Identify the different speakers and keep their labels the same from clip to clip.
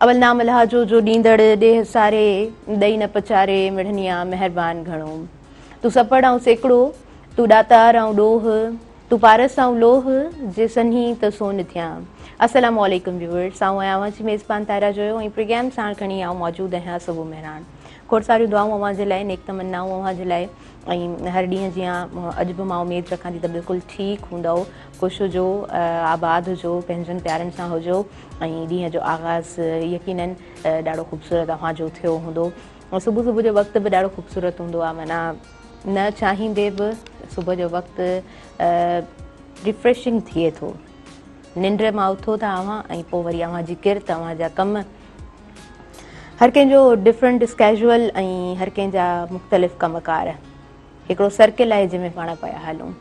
Speaker 1: اول نام الاهه جو جو ڏيندڙ ڏيهه ساري ڏئي نه پچاري مڙهنيا مهربان گهڻو تون سپڙ آئون سيڪڙو تون ڏاتار آئون ڏوهه تون پارس آئون لوهه جي سنهي ته سون ٿيان السلام عليڪم ويورز آئون آهيان اوهان جي ميزبان طاهره جويو ۽ پروگرام ساڻ کڻي آئون موجود آهيان صبح مهراڻ کوڙ ساريون دعائون اوهان جي لاء، نيڪ تمنائون اوهان جي لاء ۽ هر ڏينهن جيان اڄ به مان اميد رکان ٿي ته بلڪل ٺيڪ هوندؤ، خوش هجو، آباد هجو، پنهنجن پيارن سان هجو ۽ ڏينهن جو آغاز يقيناً ڏاڍو خوبصورت اوهان جو ٿيو هوندو. صبح صبح جو وقت به ڏاڍو خوبصورت هوندو آهي معنيٰ نه چاهيندي به صبح جو وقت ريفريشنگ ٿئي ٿو. ننڊ مان اٿو ٿا اوهان ۽ پوء وري اوهان جي ڪرت، اوهان جا ڪم، هر ڪنهن جو ڊفرنٽ اسڪيجول ۽ هر ڪنهن جا مختلف ڪم ڪار هڪڙو سرڪل آهي جنهن ۾ پاڻ پيا هلون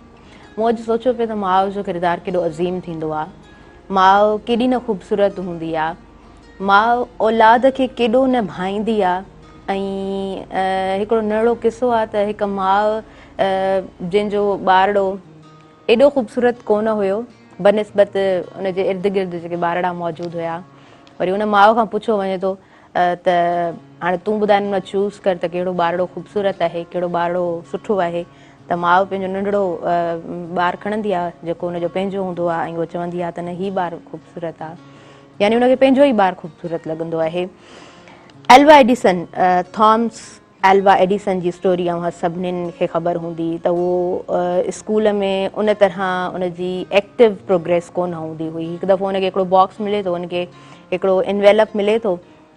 Speaker 1: مون اڄ سوچيو پيو ته ماء جو ڪردار ڪيڏو عظيم ٿيندو آهي ماء ڪيڏي نه خوبصورت هوندي آهي ماء اولاد کي ڪيڏو نه ڀائيندي آهي ۽ هڪڙو نهڙو قصو آهي ته هڪ ماء جنهن جو ٻارڙو ايڏو خوبصورت ڪونه هيو بنسبت ان جي ارد گرد جيڪي ٻارڙا موجود هيا وري ان ماء کان پڇيو وڃي ٿو ته هاڻي تون ٻڌاء ان مان چوز ڪر ته ڪهڙو ٻارڙو خوبصورت آهي ڪهڙو ٻارڙو سٺو آهي ته ماء پنهنجو ننڍڙو ٻار کڻندي آهي جيڪو ان جو پنهنجو هوندو آهي ۽ هو چوندي آهي ته نه هي ٻار خوبصورت آهي يعني ان کي پنهنجو ئي ٻار خوبصورت لڳندو آهي Alva Edison Thomas Alva Edison جي اسٽوري اوهان سڀنين کي خبر هوندي ته هو اسڪول ۾ ان طرح ان جي ايڪٽو پروگريس ڪونه هوندي هئي هڪ دفعو ان کي هڪڙو باڪس ملي ٿو ان کي هڪڙو انويلپ ملي ٿو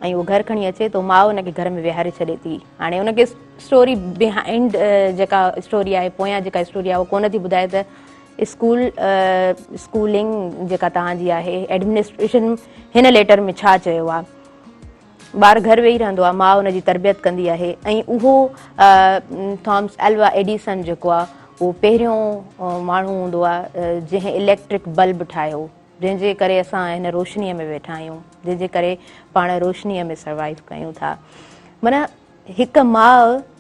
Speaker 1: ۽ هو گهر کڻي اچي ٿو ماء ان کي گهر ۾ ويهاري ڇڏي ٿي هاڻي ان کي اسٽوري بهائنڊ جيڪا اسٽوري آهي پويان جيڪا اسٽوري آهي اهو ڪونه ٿي ٻڌائي ته اسڪول اسڪولنگ جيڪا تهان جي آهي ايڊمنسٽريشن هن ليٽر ۾ ڇا چيو آهي ٻار گهر ويهي رهندو آهي، ماء ان جي تربيت ڪندي آهي ۽ اهو ٿامس الوا ايڊيسن جيڪو آهي اهو پهريون ماڻهو هوندو آهي جنهن اليڪٽرڪ بلب ٺاهيو جنهن جي ڪري اسان هن روشنيء ۾ ويٺا آهيون جنهن جي ڪري پاڻ روشنيء ۾ سروائيو ڪيون ٿا معنيٰ هڪ ماء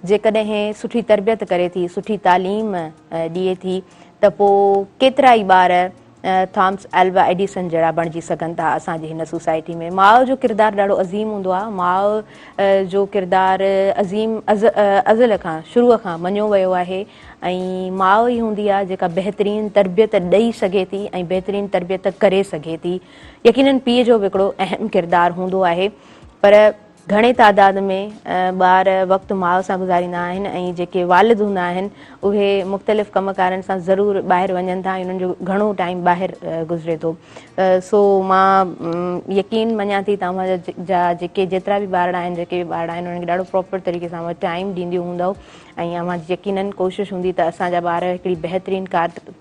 Speaker 1: جيڪڏهن سٺي تربيت ڪري ٿي، سٺي تعليم ڏئي ٿي ته پوء ڪيترا ئي ٻار ٿامس الوا ايڊيسن جهڙا بڻجي سگهن ٿا. اسان جي هن سوسائٽي ۾ ماء جو ڪردار ڏاڍو عظيم هوندو آهي. ماء جو ڪردار عظيم ازل کان، شروع کان مڃيو ويو آهي ۽ ماء ئي هوندي آهي جيڪا بهترين تربيت ڏئي سگهي ٿي ۽ بهترين تربيت ڪري سگهي ٿي. يقينن پيء جو به هڪڙو اهم ڪردار هوندو آهي پر گهڻي تعداد ۾ ٻار وقت ماء سان گذاريندا آهن ۽ جيڪي والد هوندا آهن اهي مختلف ڪم ڪارن سان ضرور ٻاهر وڃن ٿا ۽ انهن جو گهڻو ٽائيم ٻاهر گذري ٿو سو مان يقين مڃان ٿي ته اوهان جا جيڪي جيترا به ٻارڙا آهن جيڪي به ٻارڙا آهن انهن کي ڏاڍو پراپر طريقي سان اوهان ٽائيم ڏينديون هوندؤ ۽ اوهان جي يقينن ڪوشش هوندي ته اسان جا ٻار هڪڙي بهترين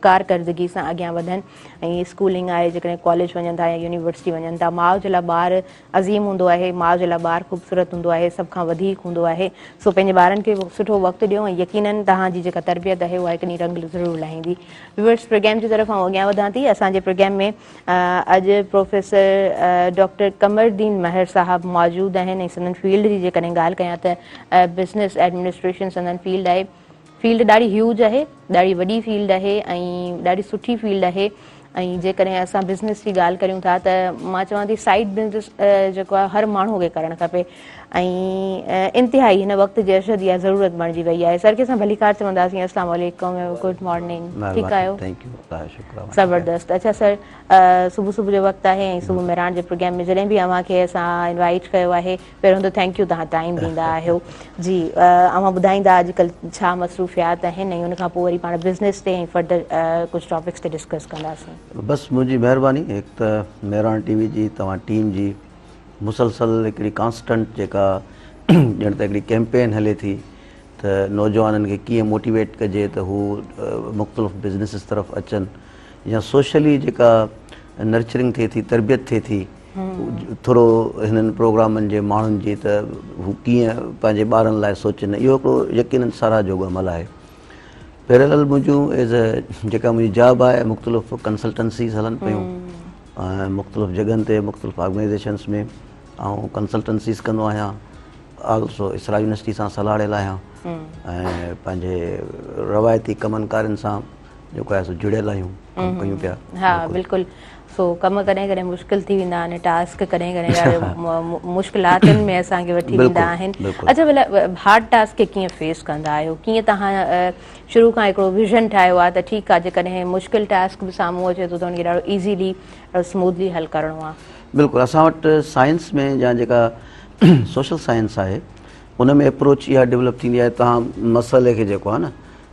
Speaker 1: ڪارڪردگي سان اڳيان وڌن ۽ اسڪولنگ آهي جيڪڏهن ڪاليج وڃن ٿا يا يونيورسٽي وڃن ٿا ماء جي لاء ٻار عظيم هوندو آهي، ماء جي لاء ٻار خوبصورت هوندو آهي، سڀ کان وڌيڪ هوندو آهي، سو پنهنجي ٻارن کي سٺو وقت ڏيو ۽ يقيناً توهان جي جيڪا تربيت آهي اها هڪ ڏينهن رنگ ضرور لاهيندي. ويورز پروگرام جي طرف آئون اڳيان وڌان ٿي، اسان جي پروگرام ۾ اڄ پروفيسر ڊاڪٽر قمر الدين مهر صاحب موجود آهن ۽ سندن فيلڊ جي جيڪڏهن ڳالهه ڪيان ته بزنس ايڊمنسٽريشن سندن فيلڊ آهي، فيلڊ ڏاڍي هيوج آهي ڏاڍي وڏي فيلڊ آهي ۽ ڏاڍي سٺي فيلڊ آهي ۽ جيڪڏهن اسان بزنس جي ڳالهه ڪريون ٿا ته مان چوان ٿي سائيڊ بزنس جيڪو آهي هر ماڻهو کي ڪرڻ کپي ۽ انتهائي هن وقت جي ارشد اها ضرورت بڻجي وئي آهي سر کي اسان ڀليڪار چونداسين اسلام عليڪم گڊ مارننگ ٺيڪ آهيو زبردست اڇا سر صبح صبح جو وقت آهي ۽ صبح مهراڻ جي پروگرام ۾ جڏهن به اوهان کي اسان انوائيٽ ڪيو آهي پهريون ته ٿينڪ يو توهان ٽائيم ڏيندا آهيو جي اوهان ٻڌائيندا اڄڪلهه ڇا مصروفيات آهن ۽ ان کان پوء وري پاڻ بزنس تي ۽ فردر ڪجهه ٽاپڪس تي ڊسڪس ڪنداسين. بس منهنجي مهرباني
Speaker 2: هڪ ته مهراڻ ٽي وي جي توهان ٽيم جي مسلسل هڪڙي ڪانسٽنٽ جيڪا ڄڻ ته هڪڙي ڪيمپين هلي ٿي ته نوجوانن کي ڪيئن موٽيويٽ ڪجي ته هو مختلف بزنسز طرف اچن يا سوشلي جيڪا نرچرنگ ٿئي ٿي تربيت ٿئي ٿي ٿورو هنن پروگرامن جي ماڻهن جي ته هو ڪيئن پنهنجي ٻارن لاء سوچين اهو هڪڙو يقينن ساراهه جوڳو عمل آهي پيرلل منهنجون ايز اي جيڪا منهنجي جاب آهي مختلف ڪنسلٽنسيز هلن پيون مختلف جڳهن تي مختلف آرگنائزيشنس ۾ آئون ڪنسلٽنسيز ڪندو آهيان آلسو اسرا يونيورسٽي سان سلهاڙيل آهيان ۽ پنهنجي روايتي ڪمن ڪارين سان جيڪو آهي سو جڙيل آهيون ڪم ڪيون پيا
Speaker 1: ها
Speaker 2: بلڪل سو
Speaker 1: ڪم ڪڏهن ڪڏهن مشڪل ٿي ويندا آهن ٽاسڪ ڪڏهن ڪڏهن ڏاڍي مشڪلاتن ۾ اسان کي وٺي ويندا آهن اچا ڀلا هارڊ ٽاسڪ کي ڪيئن فيس ڪندا آهيو ڪيئن توهان شروع کان هڪڙو ويزن ٺاهيو آهي ته ٺيڪ آهي جيڪڏهن مشڪل ٽاسڪ به سامهون اچي ٿو ته ان کي ڏاڍو ايزيلي سموڌلي حل ڪرڻو آهي بلڪل اسان وٽ
Speaker 2: سائنس ۾ يا جيڪا سوشل سائنس آهي ان ۾ اپروچ اها ڊيولپ ٿيندي آهي توهان مسئلي کي جيڪو آهي نه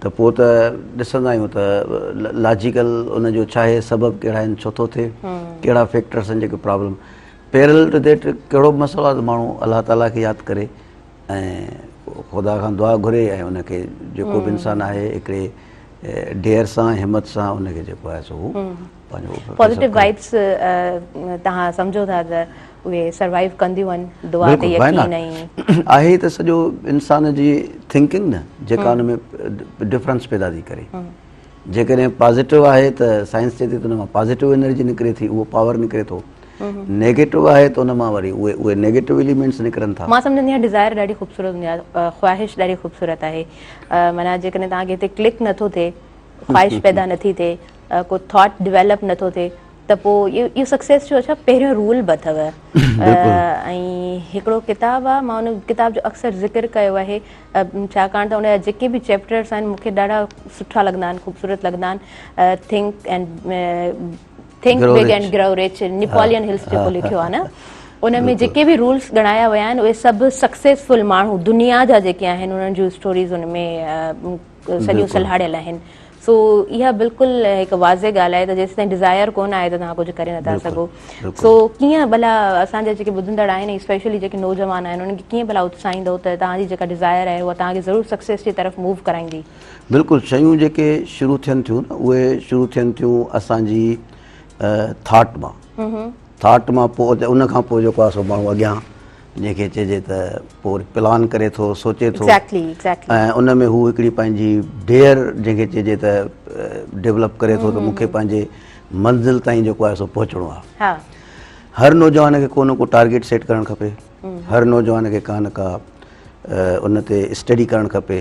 Speaker 2: ته پوء ته ڏسندا آهيون ته لاجيڪل ان جو ڇا آهي سبب ڪهڙا آهن ڇو ٿو ٿئي ڪهڙا فيڪٽرس آهن جيڪي پرابلم پيرل ٽو ديٽ ڪهڙو به مسئلو آهي ته ماڻهو الله تعاليٰ کي ياد ڪري ۽ خدا کان دعا گهري ۽ ان کي جيڪو به انسان آهي هڪڙي ڊير سان همت سان ان کي جيڪو آهي سو پنهنجو پازيٽو وائبس
Speaker 1: تهان سمجهو ٿا ته اهي سروائيو ڪنديون آهن دعا تي يقين ۽. آهي ته سڄو
Speaker 2: انسان جي ٿنڪنگ نه جيڪا ان ۾ ڊفرنس پيدا ٿي ڪري جيڪڏهن پازيٽو آهي ته سائنس چئي ٿي ته ان مان پازيٽو انرجي نڪري ٿي اهو پاور نڪري ٿو نيگيٽو آهي ته ان مان وري اهي اهي نيگيٽو اليمينٽس نڪرن ٿا مان سمجهندي آهيان ڊزائر
Speaker 1: ڏاڍي خوبصورت هوندي آهي خواهش ڏاڍي خوبصورت آهي معنيٰ جيڪڏهن توهان کي هتي ڪلڪ نٿو ٿئي خواهش پيدا نٿي ٿئي ڪو ٿاٽ ڊيولپ نٿو ٿئي ته پوء اهو سڪسيس جو ڇا پهريون رول به اٿو ۽ هڪڙو ڪتاب آهي مان ان ڪتاب جو اڪثر ذڪر ڪيو آهي ڇاڪاڻ ته ان جا جيڪي به چيپٽرس آهن مون کي ڏاڍا سٺا لڳندا آهن خوبصورت لڳندا آهن think and think big and grow rich Napoleon Hills جيڪو لکيو آهي نه ان ۾ جيڪي به رولس ڳڻايا ويا آهن اهي سڀ سڪسيسفل ماڻهو دنيا جا جيڪي آهن انهن جون اسٽوريز ان ۾ سڏيون سلهاڙيل آهن سو اها بلڪل هڪ واضح ڳالهه آهي ته جيستائين ڊزائر ڪونه آهي ته توهان ڪجهه ڪري نٿا سگهو سو ڪيئن ڀلا اسان جا جيڪي ٻڌندڙ آهن اسپيشلي جيڪي نوجوان آهن انهن کي ڪيئن ڀلا اتساهيندو ته توهان جي جيڪا ڊزائر آهي اها توهان کي ضرور سڪسيس جي طرف موو ڪرائيندي بلڪل شيون
Speaker 2: جيڪي شروع ٿين ٿيون نه اهي شروع ٿين ٿيون اسان جي ٿاٽ مان ٿاٽ مان پوء ان کان پوء جيڪو آهي سو ماڻهو اڳيان جنهن کي چئجي ته پوء وري پلان ڪري ٿو سوچي ٿو ۽ ان ۾ هو هڪڙي پنهنجي ڊيئر جنهن کي چئجي ته ڊيولپ ڪري ٿو ته مون کي پنهنجي منزل تائين جيڪو آهي سو پهچڻو آهي هر نوجوان کي ڪو نه ڪو ٽارگيٽ سيٽ ڪرڻ کپي هر نوجوان کي ڪا نه ڪا ان تي اسٽڊي ڪرڻ کپي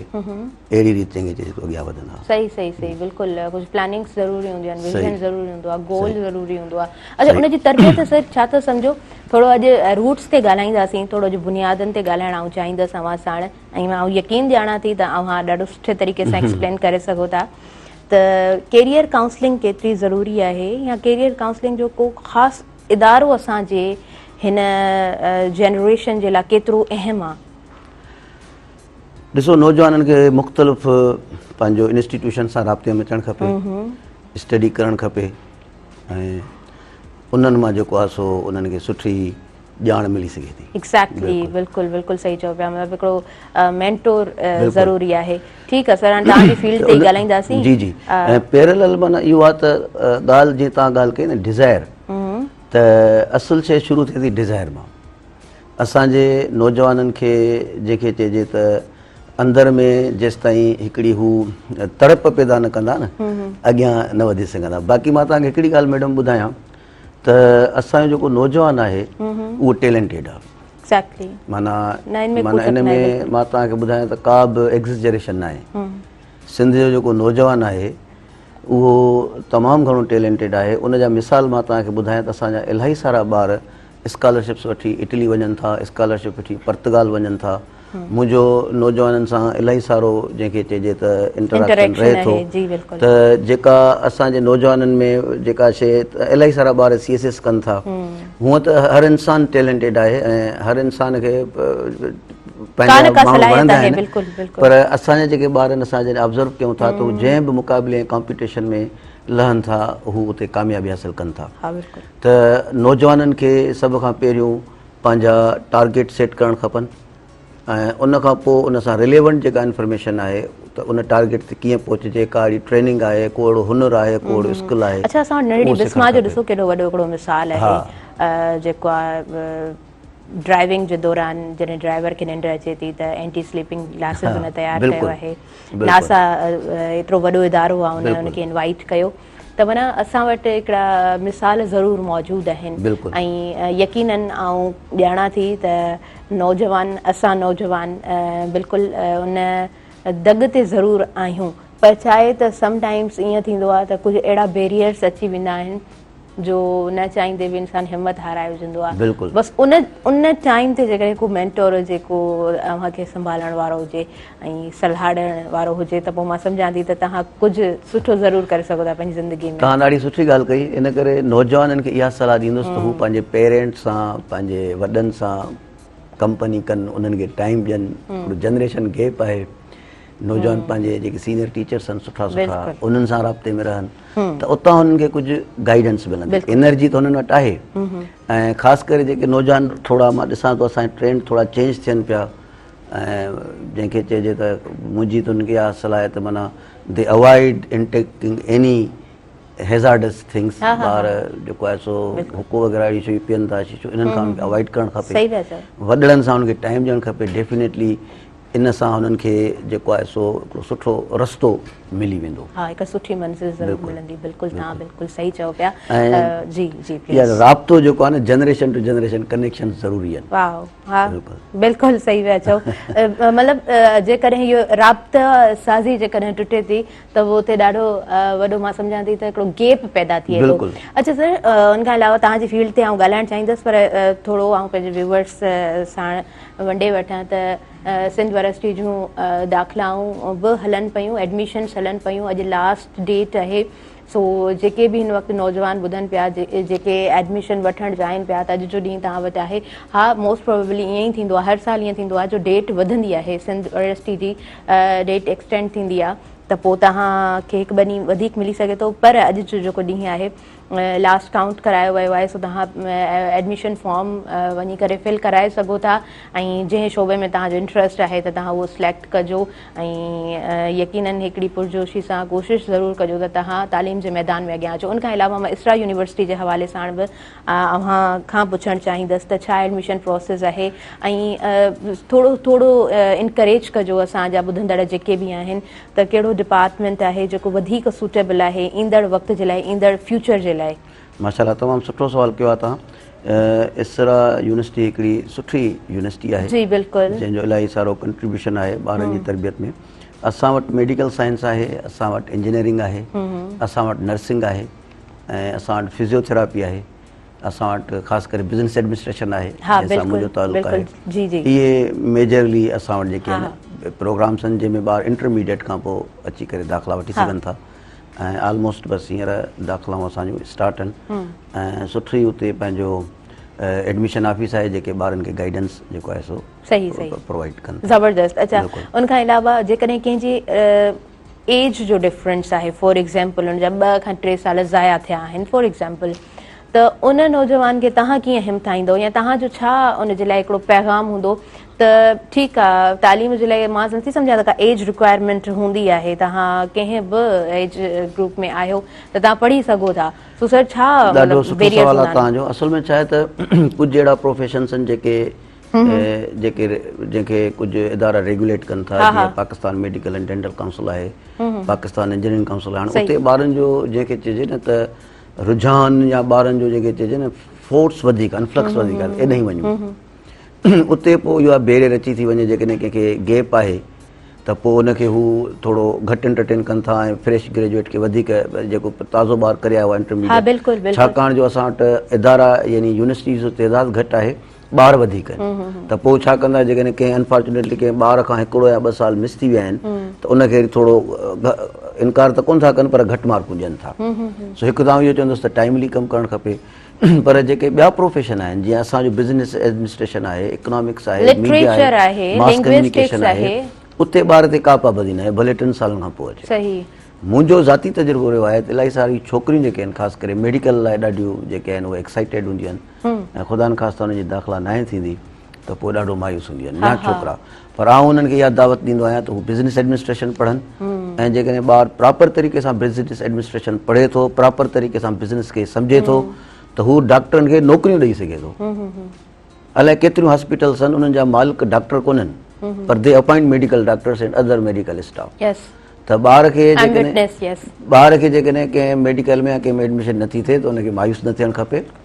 Speaker 2: اهڙي ريت چڱي طريقي سان اڳيان وڌن ها. صحيح صحيح صحيح بلڪل
Speaker 1: ڪجھ پلاننگس ضروري هونديون آهن ويزن ضروري هوندو آهي گول ضروري هوندو آهي اچا ان جي تربيت سر ڇا ٿا سمجهو ٿورو اڄ روٽس تي ڳالهائينداسين ٿورو اڄ بنيادن تي ڳالهائڻ آئون چاهيندس اوهان ساڻ ۽ آئون يقين ڄاڻان ٿي ته اوهان ڏاڍو سٺي طريقي سان ايڪسپلين ڪري سگهو ٿا ته ڪيريئر ڪائونسلنگ ڪيتري ضروري آهي يا ڪيريئر ڪائونسلنگ جو ڪو خاص ادارو اسان جي هن جنريشن جي لاء ڪيترو اهم آهي ڏسو
Speaker 2: نوجوانن کي مختلف پنهنجو انسٽيٽيوشن سان رابطي ۾ اچڻ کپي اسٽڊي ڪرڻ کپي ۽ انهن مان جيڪو آسو انهن کي سٺي ڄاڻ ملي سگهي ٿي ايڪزيڪٽلي بلڪل
Speaker 1: بلڪل صحيح چئو پيا مطلب هڪڙو مينٽور ضروري آهي ٺيڪ آهي سر هاڻي توهان جي فيلڊ تي ڳالهائينداسين جي جي ۽
Speaker 2: پيرلل معنی اهو آهي ته ڳالهه جي توهان ڳالهه ڪئي نه ڊيزائر ته اصل شيء شروع ٿئي ٿي ڊيزائر مان اسان جي نوجوانن کي جيڪي چئجي ته اندر ۾ جيستائين هڪڙي هو تڙپ پيدا نه ڪندا نه اڳيان نه وڌي سگهندا باقي مان توهان کي هڪڙي ڳالهه ميڊم ٻڌايان ته اسان جو جيڪو نوجوان آهي اهو ٽيلنٽيڊ آهي ايگزيڪٽلي معنيٰ معنيٰ ان ۾ مان توهان کي ٻڌايان ته ڪا به ايگزجريشن نه آهي سنڌ جو جيڪو نوجوان آهي اهو تمام گهڻو ٽيلنٽيڊ آهي ان جا مثال مان توهان کي ٻڌايان ته اسان جا الاهي سارا ٻار اسڪالرشپس وٺي اٽلي وڃن ٿا، اسڪالرشپ وٺي پرتگال وڃن ٿا، منهنجو نوجوانن سان الاهي سارو جنهن کي چئجي ته انٽراڪشن رهي ٿو ته جيڪا اسان جي نوجوانن ۾ جيڪا شيء الاهي سارا ٻار سي ايس ايس ڪن ٿا هونء ته هر انسان ٽيلنٽيڊ آهي ۽ هر انسان کي پنهنجا ماڻهو وڻندا آهن پر اسان جا جيڪي ٻار آهن اسان جڏهن آبزرو ڪيون ٿا ته جنهن به مقابلي ۽ ڪامپيٽيشن ۾ لهن ٿا هو اتي ڪاميابي حاصل ڪن ٿا ته نوجوانن کي سڀ کان پهريون پنهنجا ٽارگيٽ سيٽ ڪرڻ کپن ۽ ان کان پوء ان سان رليونٽ جيڪا انفارميشن آهي ته ان ٽارگيٽ تي ڪيئن پهچجي ڪا اهڙي ٽريننگ آهي ڪو اهڙو هنر آهي ڪو اهڙو اسڪل آهي اڇا اسان وٽ ننڍڙي بسما
Speaker 1: جو ڏسو ڪيڏو وڏو هڪڙو مثال آهي جيڪو ڊرائيونگ جي دوران جڏهن ڊرائيور کي ننڊ اچي ٿي ته اينٽي سليپنگ گلاسز ان تيار ڪيو آهي ناسا ايترو وڏو ادارو آهي ان کي انوائيٽ ڪيو ته معنيٰ اسان وٽ هڪڙا مثال ضرور موجود آهن ۽
Speaker 2: يقيناً
Speaker 1: آئون ڄاڻان ٿي ته نوجوان اسان نوجوان بلڪل ان دڳ تي ضرور آهيون پر ڇا آهي ته سم ٽائمز ائين ٿيندو آهي ته ڪجهه اهڙا بيريئرز اچي ويندا آهن جو نه چاهيندي به انسان همت هارائي وجهندو آهي بس
Speaker 2: ان ان
Speaker 1: ٽائيم تي جيڪڏهن ڪو مينٽور هجي ڪو اوهان کي سنڀالڻ وارو هجي ۽ صلاح ڏيڻ وارو هجي ته پوء مان سمجهان ٿي ته توهان ڪجهه سٺو ضرور ڪري سگهو ٿا پنهنجي زندگي ۾. توهان ڏاڍي سٺي ڳالهه ڪئي
Speaker 2: ان ڪري نوجوانن کي اها صلاح ڏيندس ته هو پنهنجي پيرينٽس سان پنهنجي وڏن سان ڪمپني ڪن انهن کي ٽائيم ڏين هڪڙو جنريشن گيپ آهي نوجوان پنهنجي جيڪي سينئر ٽيچرس آهن سٺا سٺا انهن سان رابطي ۾ رهن ته اتان انهن کي ڪجهه گائيڊنس ملندي انرجي ته انهن وٽ آهي ۽ خاص ڪري جيڪي نوجوان ٿورا مان ڏسان ٿو اسان جا ٽرينڊ ٿورا چينج ٿين پيا ۽ جنهن کي چئجي ته منهنجي تون کي اها صلاحيت معنيٰ the avoid in taking any hazardous things ٻار جيڪو آهي سو حڪو وغيره اهڙي شيون پين ٿا شيشو انهن کان اوائيڊ ڪرڻ کپي وڏڙن سان انهن کي ٽائيم ڏيڻ کپي ڊيفينيٽلي ان سان انهن کي جيڪو آهي سو هڪڙو سٺو رستو ملي ويندو ها هڪ سٺي منزل
Speaker 1: ضرور ملندي بلڪل تان بلڪل صحيح چئو پيا جي جي پليز رابطو جيڪو
Speaker 2: آهي نه جنريشن ٽو جنريشن ڪنيڪشن ضروري آهن واء ها
Speaker 1: بلڪل صحيح پيا چئو مطلب جيڪڏهن اهو رابطا سازي جيڪڏهن ٽٽي ٿي ته اهو اتي ڏاڍو وڏو مان سمجهان ٿي ته هڪڙو گيپ پيدا ٿئي ٿو اڇا سر ان کان علاوه توهان جي فيلڊ تي آئون ڳالهائڻ چاهيندس پر ٿورو آئون پنهنجي ويوورس ساڻ ونڊي وٺان ته سنڌ يونيورسٽي جون داخلائون به هلن پيون ايڊميشنس هلن پيون اڄ لاسٽ ڊيٽ آهي سو جيڪي به هن وقت نوجوان ٻڌن پيا جيڪي ايڊميشن وٺڻ چاهين پيا ته اڄ جو ڏينهن توهان وٽ آهي ها موسٽ پروبيبلي ائين ئي ٿيندو آهي هر سال ائين ٿيندو آهي جو ڊيٽ وڌندي آهي سنڌ يونيورسٽي جي ڊيٽ ايڪسٽينڊ ٿيندي آهي ته پوء توهان کي هڪ ٻه ڏينهن وڌيڪ ملي سگهي ٿو پر اڄ جو جيڪو ڏينهن آهي لاسٽ ڪائونٽ ڪرايو ويو آهي سو توهان ايڊميشن فارم وڃي ڪري فل ڪرائي سگهو ٿا ۽ جنهن شعبي ۾ توهان جو انٽرسٽ آهي ته توهان اهو سليڪٽ ڪجو ۽ يقينن هڪڙي پرجوشي سان ڪوشش ضرور ڪجو ته توهان تعليم جي ميدان ۾ اڳيان اچو ان کان علاوه مان اسرا يونيورسٽي جي حوالي ساڻ به اوهان کان پڇڻ چاهيندس ته ڇا ايڊميشن پروسيس اهي ۽ ٿورو ٿورو انڪريج ڪجو اسان جا ٻڌندڙ جيڪي به آهن ته ڪهڙو ڊپارٽمينٽ آهي جيڪو وڌيڪ سوٽيبل آهي ايندڙ وقت جي لاء ايندڙ فيوچر جي لاء ماشاء الله تمام
Speaker 2: سٺو سوال ڪيو آهي توهان اسرا يونيورسٽي هڪڙي سٺي يونيورسٽي آهي جي بلڪل جنهن جو الاهي سارو ڪنٽريبيوشن آهي ٻارن جي تربيت ۾ اسان وٽ ميڊيڪل سائنس آهي اسان وٽ انجنيئرنگ آهي اسان وٽ نرسنگ آهي ۽ اسان وٽ فزيوٿيراپي آهي اسان وٽ خاص ڪري بزنس ايڊمنسٽريشن آهي جنهن سان منهنجو تعلق آهي اهي ميجرلي اسان وٽ جيڪي آهن پروگرامس آهن جنهن ۾ ٻار انٽرميڊيٽ کان پوء اچي ڪري داخلا وٺي سگهن ٿا ۽ آلموسٽ بس هينئر داخلائون اسان جون اسٽارٽ آهن ۽ سٺي اتي پنهنجو ايڊميشن آفيس آهي جيڪي ٻارن کي گائيڊنس جيڪو آهي سو پرووائيڊ ڪن ٿا زبردست اچا ان کان علاوه جيڪڏهن ڪنهن جي ايج جو ڊفرنس آهي فار ايگزامپل ان جا ٻه کان ٽي سال ضايع ٿيا آهن فار ايگزامپل ته ان نوجوان کي تهان ڪيئن همٿائيندو يا تهان جو ڇا ان جي لاء هڪڙو پيغام هوندو ته ٺيڪ آ تعليم جي لاء مان نٿي سمجهان ته ڪا ايج رڪوائرمينٽ هوندي آهي توهان ڪنهن به ايج گروپ ۾ آهيو ته توهان پڙهي سگهو ٿا سو سر ڇا ڏاڍو سٺو سوال آ توهان جو اصل ۾ ڇا آهي ته ڪجهه اهڙا پروفيشنس آهن جيڪي جيڪي جنهن کي ڪجهه ادارا ريگوليٽ ڪن ٿا جيئن Pakistan medical and dental council آهي پاڪستان انجنيئرنگ ڪائونسل آهي هاڻي اتي ٻارن جو جنهن کي چئجي نه ته رجحان يا ٻارن جو جنهن کي چئجي نه فورس وڌيڪ آهن فلڪس وڌيڪ آهن ايڏانهن وڃون اتي پوء اها بيري رچي ٿي وڃي، جيڪڏهن ڪنهن کي گيپ آهي ته پوء ان کي هو ٿورو گهٽ انٽرٽين ڪن ٿا ۽ فريش گريجوئيٽ کي وڌيڪ جيڪو پتازو ٻار ڪري آيو آهي انٽرميڊيٽ ڇاڪاڻ جو اسان وٽ ادارا يعني يونيورسٽيز جو تعداد گهٽ آهي ٻار وڌيڪ آهن ته پوء ڇا ڪندا جيڪڏهن ڪنهن انفارچونيٽلي ڪنهن ٻار کان هڪڙو يا ٻه سال مس ٿي ويا آهن ته ان کي ٿورو انڪار ته ڪونه ٿا ڪن پر گهٽ مارڪون ڏين ٿا سو هڪ ته آئون اهو چوندس ته ٽائملي ڪم ڪرڻ کپي پر جيڪي ٻيا پروفيشن آهن جيئن اسان جو بزنس ايڊمنسٽريشن آهي، اڪنامڪس آهي، ميڊيا آهي، لٽريچر آهي، ماس ڪميونيڪيشن لنگويسٽڪس آهي، آهي. اتي ٻار تي ڪا پابندي ناهي ڀلي ٽن سالن کان پوء اچي. صحيح. منهنجو ذاتي تجربو رهيو آهي ته الائي ساريون ڇوڪريون جيڪي آهن خاص ڪري ميڊيڪل لاء ڏاڍيون جيڪي آهن اهي ايڪسائيٽيڊ هونديون آهن ۽ خدا نخواسته انهن جي داخلا ناهي ٿيندي ته پوء ڏاڍو مايوس هونديون آهن يا ڇوڪرا. پر آئون انهن کي اها دعوت ڏيندو آهيان ته هو بزنس ايڊمنسٽريشن پڙهن ۽ جيڪڏهن ٻار پراپر طريقي سان بزنس ايڊمنسٽريشن پڙهي ٿو پراپر طريقي سان بزنس کي سمجهي ٿو ته هو ڊاڪٽرن کي نوڪريون ڏئي سگهي ٿو الائي ڪيتريون هاسپيٽلس آهن انهن جا مالڪ ڊاڪٽر ڪونهن پر the appoint medical doctors and other medical staff ته ٻار کي ٻار
Speaker 1: کي جيڪڏهن
Speaker 2: ڪنهن ميڊيڪل ۾ ڪنهن ۾ ايڊمشن نٿي ٿئي ته ان کي مايوس نه ٿيڻ کپي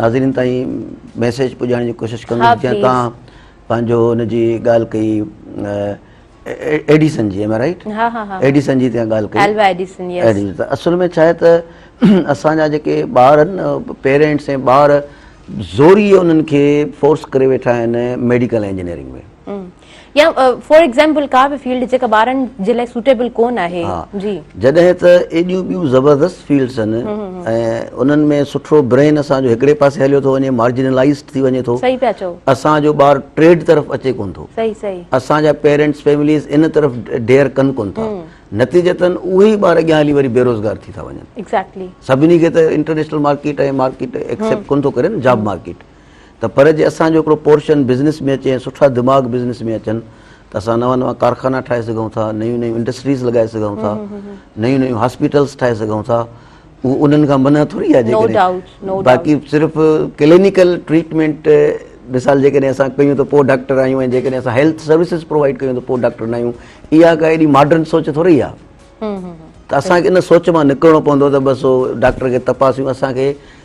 Speaker 2: ناظرين تائين ميسيج پڄائڻ جي ڪوشش ڪندس جيئن توهان پنهنجو ان جي ڳالهه ڪئي ايڊيسن جي ايم آء رائٽ ايڊيسن جي
Speaker 1: تيان ڳالهه ڪئي
Speaker 2: الوا ايڊيسن
Speaker 1: يس اصل ۾ ڇا آهي
Speaker 2: ته اسان جا جيڪي ٻار آهن پيرنٽس ۽ ٻار زوري انهن کي فورس ڪري ويٺا آهن ميڊيڪل انجنيئرنگ ۾ يا
Speaker 1: فار ايگزامپل ڪا به فيلڊ جيڪا ٻارن جي لاء سوٽيبل ڪون آهي جي جڏهن ته
Speaker 2: ايڏيون ٻيون زبردست فيلڊس آهن انهن ۾ سٺو برين اسان جو هڪڙي پاسي هليو ٿو وڃي مارجنلائيز ٿي وڃي ٿو صحيح پيا چئو اسان جو
Speaker 1: ٻار ٽريڊ
Speaker 2: طرف اچي ڪون ٿو صحيح صحيح اسان جا
Speaker 1: پيرنٽس
Speaker 2: فيمليز ان طرف ڊيئر ڪن ڪون ٿا نتيجتن اهي ئي ٻار اڳيان هلي وري بيروزگار ٿي ٿا وڃن ايگزيڪٽلي سڀني کي
Speaker 1: ته
Speaker 2: انٽرنيشنل مارڪيٽ ۽ مارڪيٽ ايڪسيپٽ ڪون ٿو ڪري نه جاب مارڪيٽ ته پر جي اسان جو هڪڙو پورشن بزنس ۾ اچي ۽ سٺا دماغ بزنس ۾ اچن ته اسان نوان نوان ڪارخانا ٺاهي سگهون ٿا، نيون نيون انڊسٽريز لڳائي سگهون ٿا، نيون نيون هاسپيٽلز ٺاهي سگهون ٿا، اهو انهن کان منع ٿوري آهي جيڪڏهن باقي صرف ڪلينيڪل ٽريٽمينٽ مثال جيڪڏهن اسان ڪيون ته پوء ڊاڪٽر آهيون ۽ جيڪڏهن اسان هيلٿ سروسز پرووائيڊ ڪيون ته پوء ڊاڪٽر نه آهيون اها ڪا اهڙي ماڊرن سوچ ٿوري آهي ته اسان کي ان سوچ مان نڪرڻو پوندو ته بس ڊاڪٽر کي تپاسيون اسان کي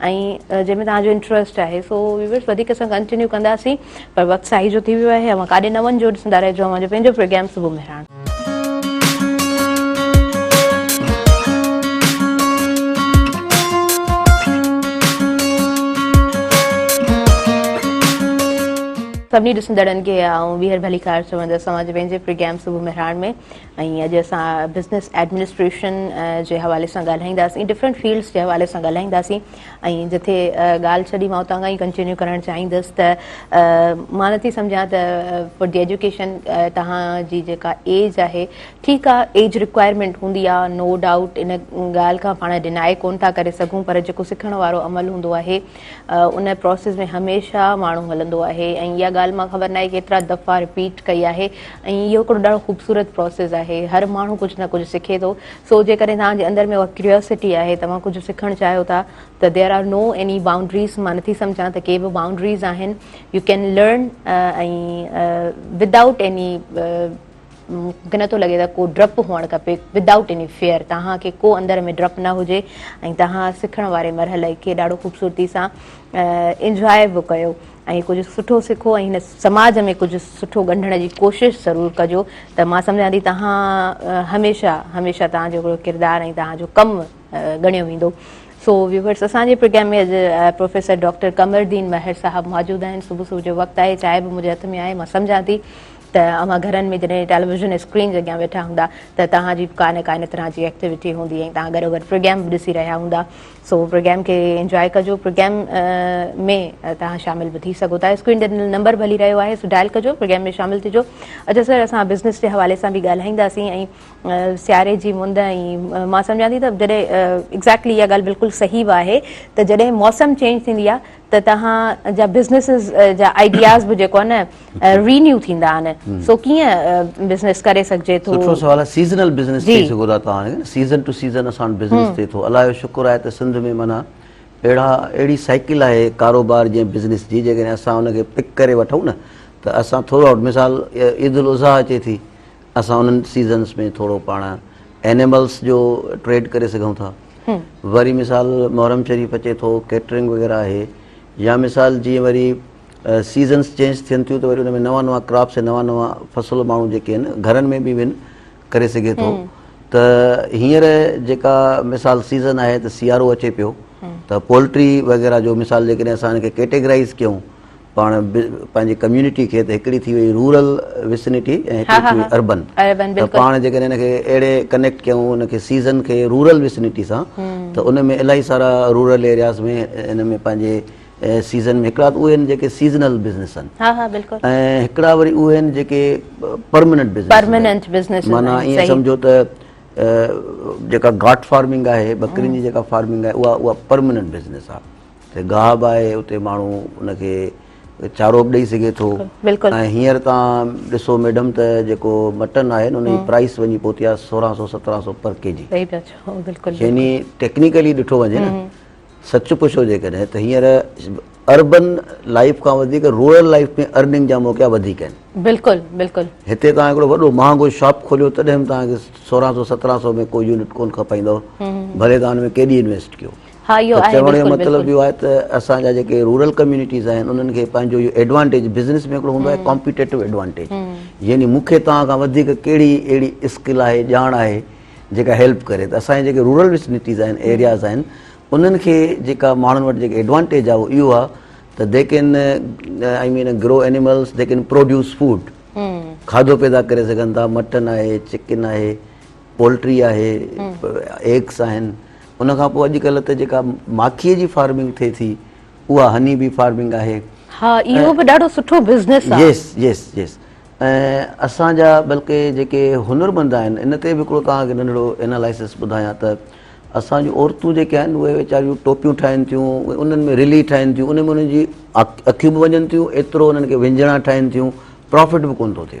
Speaker 1: ۽ جنهن ۾ توهان جو انٽرسٽ آهي سو ويورس وڌيڪ اسان ڪنٽينيو ڪنداسين پر وقت ساهي جو ٿي ويو آهي اوهان ڪاڏي نه وڃجو ڏسندا رهجو اوهان جو پنهنجو پروگرام صبح مهراڻ. سڀني ڏسندڙن کي آئون ٻيهر ڀليڪار چوندس اوهان جي پنهنجي پروگرام صبح مهراڻ ۾ ۽ اڄ اسان بزنس ايڊمنسٽريشن جي حوالي سان ڳالهائينداسين ڊفرنٽ فيلڊس جي حوالي سان ڳالهائينداسين ۽ جتي ڳالهه ڇڏي مان اتان کان ئي ڪنٽينيو ڪرڻ چاهيندس ته مان نٿي سمجهان ته فور دي ايجوڪيشن توهان جي جيڪا ايج آهي ٺيڪ آهي ايج رڪوائرمينٽ هوندي آهي نو ڊائوٽ ان ڳالهه کان پاڻ ڊيناء ڪونه ٿا ڪري سگهون پر جيڪو سکڻ وارو عمل هوندو آهي ان پراسيس ۾ هميشه ماڻهو هلندو آهي ۽ اها ڳالهه مان خبر ناهي ڪيترا دفعا رپيٽ ڪئي آهي ۽ اهو هڪڙو ڏاڍو خوبصورت پراسيس آهي هر ماڻهو ڪجهه نه ڪجهه سکي ٿو سو جيڪڏهن توهان جي اندر ۾ اها ڪريوسٽي آهي توهان ڪجهه سکڻ چاهيو ٿا ته there are no any boundaries مان نٿي سمجهان ته ڪي به بائونڊريز آهن you can learn ۽ without any مونکي نٿو لڳي ته ڪو ڊپ هئڻ کپي Without Any Fear توهان کي ڪو اندر ۾ ڊپ نه هجي ۽ توهان سکڻ واري مرحلي کي ڏاڍو خوبصورتي سان Enjoy به ڪيو ۽ ڪجهه سٺو سکو ۽ هن سماج ۾ ڪجهه سٺو ڳنڍڻ جي ڪوشش ضرور ڪجو ته مان سمجهان ٿي توهان هميشه هميشه توهان جو ڪردار ۽ توهان جو ڪم ڳڻيو ويندو سو ويوورس اسان جي پروگرام ۾ اڄ پروفيسر ڊاڪٽر قمر الدين مهر صاحب موجود آهن صبح صبح جو وقت آهي چائي به منهنجي هٿ ۾ آهي مان سمجهان ٿي ته اوهان گهرن ۾ جڏهن ٽيليويزن اسڪرين جي اڳيان ويٺا هوندا ته توهان جي به ڪا نه ڪا ان طرح جي ايڪٽيوٽي هوندي ۽ توهان گڏو گڏ پروگرام به ڏسي رهيا هوندا سو پروگرام کي انجواء ڪجو پروگرام ۾ توهان شامل به ٿي سگهو ٿا اسڪرين تي نمبر به هلي رهيو آهي سو ڊائل ڪجو پروگرام ۾ شامل ٿجو اچو سر اسان بزنس جي حوالي سان به ڳالهائينداسين ۽ سياري جي مند ۽ مان سمجهان ٿي ته جڏهن ايگزيڪٽلي اها ڳالهه بلڪل صحيح به آهي ته جڏهن موسم چينج ٿيندي آهي ته توهان جا بزنيسز جا آئيڊياز به جيڪو آهي نه رينيو ٿيندا آهن سو ڪيئن بزنيس ڪري سگهجي ٿو. سٺو سوال آهي سيزنل
Speaker 2: بزنيس چئي سگهو ٿا توهان سيزن ٽو سيزن اسان وٽ بزنيس ٿئي ٿو الله جو شڪر آهي ته سنڌ ۾ معنيٰ اهڙا اهڙي سائيڪل آهي ڪاروبار جي بزنيس جي جيڪڏهن اسان ان کي پڪ ڪري وٺون نه ته اسان ٿرو آئوٽ مثال عيد الاضحيٰ اچي ٿي اسان انهن سيزنس ۾ ٿورو پاڻ اينيملس جو ٽريڊ ڪري سگهون ٿا وري مثال محرم شريف اچي ٿو ڪيٽرنگ وغيره آهي يا مثال جي وري سيزنس چينج ٿين ٿيون ته وري ان ۾ نوان نوان ڪراپس نوان نوان فصل ماڻهو جيڪي آهن گهرن ۾ به وين ڪري سگهي ٿو ته هينئر جيڪا مثال سيزن آهي ته سيارو اچي پيو ته پولٽري وغيره جو مثال جيڪڏهن اسان ان کي ڪيٽيگرائز ڪيون پاڻ پنهنجي ڪميونٽي کي ته هڪڙي ٿي وئي رورل وسنٽي ۽ هڪڙي ٿي وئي اربن ته پاڻ جيڪڏهن ان کي اهڙي ڪنيڪٽ ڪيون ان کي سيزن کي رورل وسنٽي سان ته ان ۾ الاهي سارا رورل ايرياز ۾ ان ۾ پنهنجي سيزن ۾ هڪڙا ته اهي آهن جيڪي سيزنل بزنس آهن ۽ هڪڙا وري اهي آهن جيڪي پرمننٽ بزنس معنيٰ ائين سمجهو ته جيڪا گاٽ فارمنگ آهي ٻڪرين جي جيڪا فارمنگ آهي اها اها پرمننٽ بزنس آهي ته گاهه به آهي اتي ماڻهو ان کي چارو به ڏئي سگهي ٿو ۽ هينئر تان ڏسو ميڊم ته جيڪو مٽن آهي ان جي پرائس وڃي پهتي آهي سورهن سو سترهن سو پر ڪي جي يعني ٽيڪنيڪلي ڏٺو وڃي نه سچ پڇو جيڪڏهن ته هينئر اربن لائف کان وڌيڪ رورل لائف ۾ ارننگ جا موقعا وڌيڪ آهن بلڪل بلڪل هتي تان هڪڙو وڏو مهانگو شاپ کوليو تڏهن به تان کي سورهن سو سترهن سو ۾ ڪو يونٽ ڪون کپائيندو ڀلي تان ان ۾ ڪيڏي انويسٽ ڪيو ها اهو آهي چوڻ جو مطلب اهو آهي ته اسان جا جيڪي رورل ڪميونٽيز آهن انهن کي پنهنجو اهو ايڊوانٽيج بزنس ۾ هڪڙو هوندو آهي ڪامپيٽيٽو ايڊوانٽيج يعني مون کي توهان کان وڌيڪ ڪهڙي اهڙي اسڪل آهي ڄاڻ آهي جيڪا هيلپ ڪري ته اسان جي جيڪي رورل وسنيٽيز آهن ايرياز آهن انهن کي جيڪا ماڻهن وٽ جيڪي ايڊوانٽيج آهي اهو اهو آهي ته they can I mean grow animals they can produce food کاڌو پيدا ڪري سگهن ٿا مٽن آهي چڪن آهي پولٽري آهي ايگس آهن ان کان پوء اڄڪلهه ته جيڪا ماکيء جي فارمنگ ٿئي ٿي اها هني بي فارمنگ آهي ها اهو به ڏاڍو سٺو بزنس آهي يس يس يس ۽ اسان جا بلڪه جيڪي هنرمند آهن ان تي به هڪڙو توهان کي ننڍڙو انالائسس ٻڌايان ته اسان جون عورتون جيڪي آهن اهي ويچاريون ٽوپيون ٺاهين ٿيون انهن ۾ رلي ٺاهين ٿيون ان ۾ انهن جي اکيون به وڃن ٿيون ايترو انهن کي وهنجڻا ٺاهين ٿيون پرافٽ به ڪونه ٿو ٿئي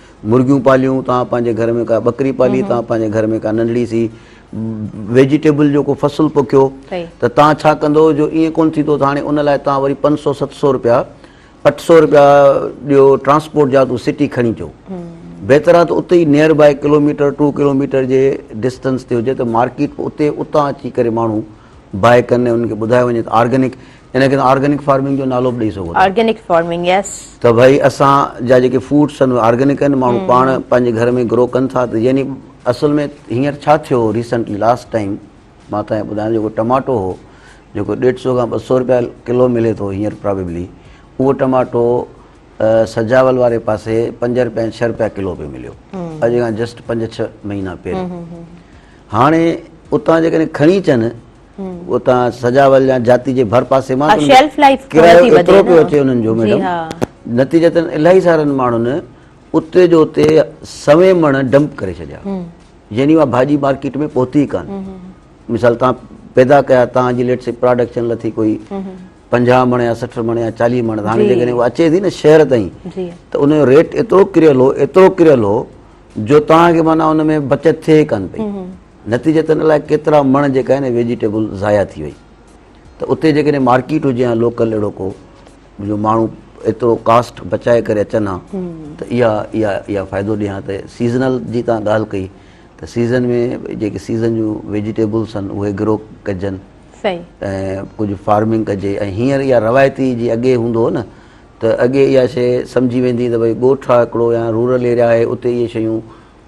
Speaker 2: مرغيون پاليون توهان پنهنجي گهر ۾ ڪا ٻڪري پالي توهان پنهنجي گهر ۾ ڪا ننڍڙي سي ويجيٽيبل جو ڪو فصل پوکيو ته توهان ڇا ڪندو جو ايئن ڪونه ٿيندو ته هاڻي ان لاء توهان وري پنج سؤ ست سؤ روپيا اٺ سؤ روپيا ڏيو ٽرانسپورٽ جا تون سٽي کڻي جو بهتر آهي ته اتي ئي near by kilometre two kilometre جي ڊسٽنس تي هجي ته مارڪيٽ اتي اتان اچي ڪري ماڻهو بائي ڪن ۽ انهن کي ٻڌايو وڃي ته آرگنڪ ان کي آرگنڪ فارمنگ جو نالو به ڏئي سگهو ٿا. Organic farming yes. ته ڀائي اسان جا جيڪي فوڊس آهن اهي آرگنڪ آهن ماڻهو پاڻ پنهنجي گهر ۾ گرو ڪن ٿا ته يعني اصل ۾ هينئر ڇا ٿيو هو ريسنٽلي لاسٽ ٽائيم مان تنهن ٻڌايان جيڪو ٽماٽو هو جيڪو ڏيڍ سو کان ٻه سو روپيا ڪلو ملي ٿو هينئر پرابيبلي اهو ٽماٽو سجاول واري پاسي پنج روپيا ڇهه روپيا ڪلو پيو مليو اڄ کان جسٽ پنج ڇهه مهينا پهريون هاڻي اتان جيڪڏهن کڻي اچن اتان سجاول يا جاتي جي ڀر پاسي مان ڪرايو ايترو پيو اچي انهن جو ميڊم نتيجتن الاهي سارن ماڻهن اتي جو اتي سوين مڻ ڊمپ ڪري ڇڏيا يعني اها ڀاڄي مارڪيٽ ۾ پهتي ڪان مثال تان پيدا ڪيا تان جي ليٽ سي پراڊڪشن لٿي ڪوئي پنجاهه مڻ يا سٺ مڻ يا چاليهه مڻ هاڻي جيڪڏهن اها اچي ٿي نه شهر تائين ته ان جو ريٽ ايترو ڪريل هو ايترو ڪريل هو جو توهان کي معنيٰ ان ۾ بچت ٿئي ئي ڪانه پئي. نتيجتاً الائي ڪيترا مڻ جيڪا آهي نه ويجيٽيبل ضايع ٿي وئي. ته اتي جيڪڏهن مارڪيٽ هجي ها لوڪل اهڙو ڪو جو ماڻهو ايترو ڪاسٽ بچائي ڪري اچن ها ته اها اها اها فائدو ڏي ها ته سيزنل جي توهان ڳالهه ڪئي ته سيزن ۾ جيڪي سيزن جون ويجيٽيبلس آهن اهي گرو ڪجن. صحيح. ۽ ڪجهه فارمنگ ڪجي ۽ هينئر اها روايتي جي اڳي هوندو هو نه ته اڳي اها شيء سمجهي ويندي ته ڀئي ڳوٺ آهي هڪڙو يا رورل ايريا آهي اتي اهي شيون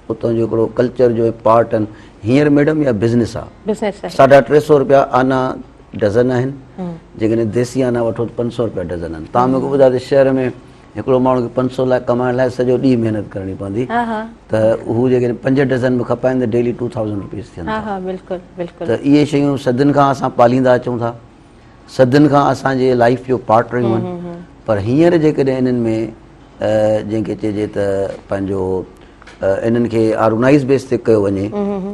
Speaker 2: اتان جو هڪڙو ڪلچر جو پارٽ آهن هينئر ميڊم اها بزنس آهي بزنس آهي ساڍا ٽي سئو روپيا آنا ڊزن آهن جيڪڏهن ديسي آنا وٺو ته پنج سئو روپيا ڊزن آهن تان مونکي ٻڌايو ته شهر ۾ هڪڙو ماڻهو کي پنج سئو لاء ڪمائڻ لاء سڄو ڏينهن محنت ڪرڻي پوندي ته
Speaker 1: هو جيڪڏهن
Speaker 2: پنج ڊزن به کپائين ته ڊيلي ٽو ٿائوزنڊ روپيز ٿين ٿا ته
Speaker 1: اهي شيون صدين
Speaker 2: کان اسان پاليندا اچون ٿا صدين کان اسان جي لائيف جو پارٽ رهيون آهن پر هينئر جيڪڏهن انهن ۾ جنهن کي چئجي ته پنهنجو انهن کي آرگنائز بيس تي ڪيو وڃي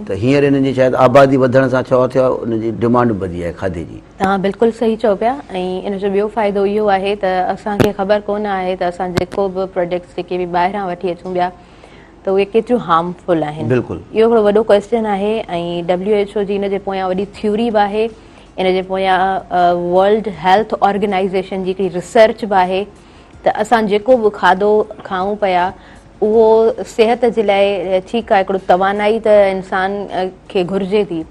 Speaker 2: ته هينئر انهن جي شايد آبادي وڌڻ سان ڇا ٿيو آهي ان جي ڊمانڊ به وڌي آهي کاڌي جي تان بلڪل صحيح چئو
Speaker 1: پيا ۽ ان جو ٻيو فائدو اهو آهي ته اسان کي خبر ڪونه آهي ته اسان جيڪو به پروڊڪٽس جيڪي به ٻاهران وٺي اچون پيا ته اهي ڪيتريون هارم فل آهن بلڪل اهو هڪڙو وڏو
Speaker 2: ڪويسچن
Speaker 1: آهي ۽ WHO جي ان جي پويان وڏي ٿيوري به آهي ان جي پويان ورلڊ هيلٿ آرگنائيزيشن جي هڪڙي ريسرچ به آهي ته اسان جيڪو به کاڌو کائون پيا اهو صحت جي لاء ٺيڪ آهي هڪڙو توانائي ته انسان کي گهرجي ٿي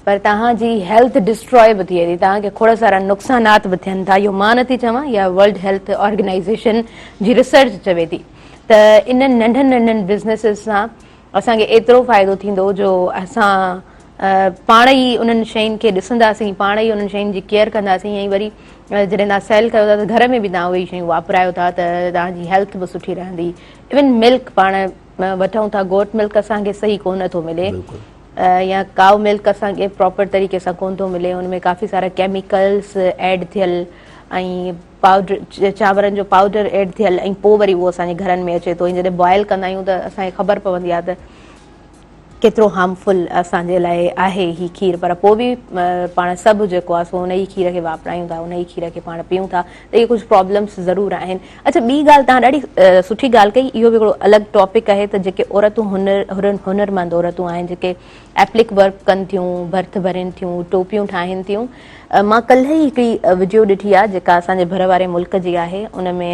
Speaker 1: پر توهان جي هيلٿ ڊسٽراء به ٿئي ٿي توهان کي کوڙ سارا نقصانات به ٿين ٿا اهو مان نٿي چوان يا ورلڊ هيلٿ آرگنائيزيشن جي ريسرچ چوي ٿي ته انهن ننڍن ننڍن بزنيسز سان اسان کي ايترو فائدو ٿيندو جو اسان پاڻ ئي انهن شين کي ڏسنداسين، پاڻ ئي انهن شين جي ڪيئر ڪنداسين ۽ وري جڏهن توهان سيل ڪيو ٿا ته گهر ۾ به توهان اهي شيون واپرايو ٿا ته توهان جي هيلٿ به سٺي رهندي. ايون ملڪ پاڻ وٺون ٿا گوٽ ملڪ اسان کي صحيح ڪونه ٿو ملي يا ڪائو ملڪ اسان کي پراپر طريقي سان ڪونه ٿو ملي ان ۾ ڪافي سارا ڪيميڪلز ايڊ ٿيل ۽ پائوڊر چانورن جو پائوڊر ايڊ ٿيل ۽ پوء وري اهو اسان جي گهرن ۾ اچي ٿو ۽ جڏهن بوائل ڪندا آهيون ته اسان کي خبر پوندي آهي ته ڪيترو هارمفل اسان جي لاء آهي هي کير پر پوء به پاڻ سڀ جيڪو آهي سو ان ئي کير کي واپرايون ٿا ان ئي کير کي پاڻ پيئون ٿا ته اهي ڪجهه پرابلمس ضرور آهن اڇا ٻي ڳالهه تان ڏاڍي سٺي ڳالهه ڪئي اهو به هڪڙو الڳ ٽاپڪ آهي ته جيڪي عورتون هنر هنرمند عورتون آهن جيڪي ايپلڪ ورڪ ڪن ٿيون، برٿ ڀرين ٿيون، ٽوپيون ٺاهين ٿيون. مان ڪلهه ئي هڪڙي وڊيو ڏٺي آهي جيڪا اسان جي ڀر واري ملڪ جي آهي ان ۾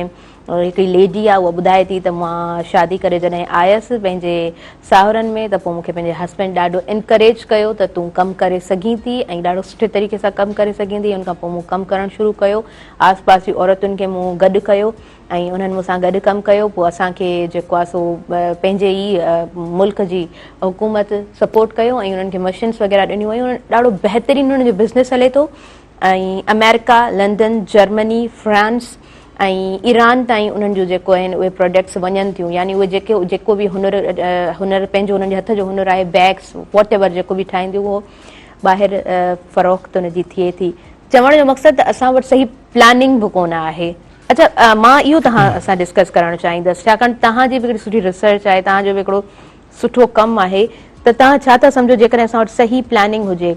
Speaker 1: هڪڙي ليڊي آهي اها ٻڌائي ٿي ته مان شادي ڪري جڏهن آيس پنهنجي ساهرن ۾ ته پوء مون کي پنهنجي هسبينڊ ڏاڍو انڪريج ڪيو ته تون ڪم ڪري سگهين ٿي ۽ ڏاڍو سٺي طريقي سان ڪم ڪري سگهين ٿي ان کان پوء مون ڪم ڪرڻ شروع ڪيو آس پاس جي عورتن کي مون گڏ ڪيو ۽ انهن مون سان گڏ ڪم ڪيو پوء اسان کي جيڪو آهي سو پنهنجي ئي ملڪ جي حڪومت سپورٽ ڪيو ۽ انهن کي مشينس وغيره ڏنيون ويون ۽ ڏاڍو بهترين انهن جو بزنس هلي ٿو ۽ آمريڪا، لندن، جرمني، فرانس ۽ ايران تائين انهن جون جيڪو آهن اهي پراڊڪٽس وڃن ٿيون يعني اهي جيڪي جيڪو به هنر هنر پنهنجو انهن جي هٿ جو هنر آهي بيگس واٽ ايور جيڪو به ٺاهين ٿيون اهو ٻاهر فروخت ان جي ٿئي ٿي چوڻ جو مقصد ته اسان وٽ صحيح پلاننگ به ڪونه آهي. اچا مان اهو توهان سان ڊسڪس ڪرڻ چاهيندس ڇاڪاڻ توهان جي به هڪڙي سٺي ريسرچ آهي توهان جو به هڪڙو سٺو ڪم آهي ته توهان ڇا ٿا سمجهو جيڪڏهن اسان وٽ صحيح پلاننگ هجي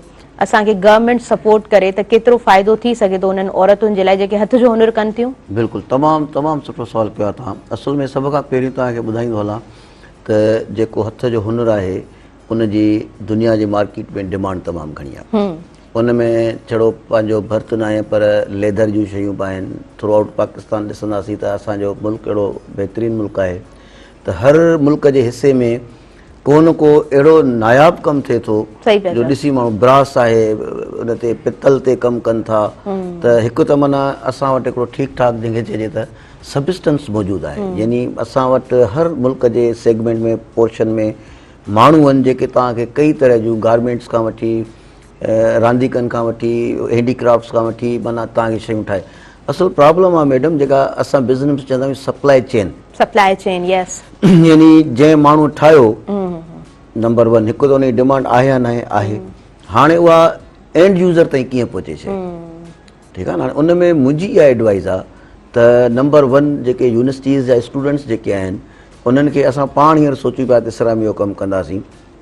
Speaker 1: اسان کي گورنمينٽ سپورٽ ڪري ته ڪيترو فائدو ٿي سگهي ٿو انهن عورتن جي لاء جيڪي هٿ جو هنر ڪن ٿيون. بلڪل تمام تمام
Speaker 2: سٺو سوال ڪيو آهي توهان اصل ۾ سڀ کان پهرين توهان کي ٻڌائيندو هلان ته جيڪو هٿ جو هنر آهي ان جي دنيا جي مارڪيٽ ۾ ڊمانڊ تمام گهڻي آهي ان ۾ ڇڙو پنهنجو ڀرت ناهي پر ليڌر جون شيون به آهن ٿرو آئوٽ پاڪستان ڏسنداسين ته اسان جو ملڪ اهڙو بهترين ملڪ آهي ته هر ملڪ جي حصي ۾ ڪو نه ڪو اهڙو ناياب ڪم ٿئي ٿو جو ڏسي ماڻهو براس آهي ان تي پتل تي ڪم ڪن ٿا ته هڪ ته معنيٰ اسان وٽ هڪڙو ٺيڪ ٺاڪ جنهن کي چئجي ته سبسٽنس موجود آهي يعني اسان وٽ هر ملڪ جي سيگمينٽ ۾ پورشن ۾ ماڻهو آهن جيڪي توهان کي ڪئي طرح جون گارمينٽس کان وٺي رانديڪن کان وٺي هينڊي ڪرافٽس کان وٺي معنيٰ توهان کي شيون ٺاهي اصل پرابلم آهي ميڊم جيڪا اسان بزنس ۾ چوندا آهيون supply chain supply chain yes يعني جنهن ماڻهو ٺاهيو نمبر ون هڪ ته ان جي ڊيمانڊ آهي يا ناهي آهي هاڻي اها اينڊ يوزر تائين ڪيئن پهچي شي ٺيڪ آهي هاڻي ان ۾ منهنجي اها ايڊوائز آهي ته نمبر ون جيڪي يونيورسٽيز جا اسٽوڊنٽس جيڪي آهن انهن کي اسان پاڻ هينئر سوچيون پيا ته سرامي جو ڪم ڪنداسين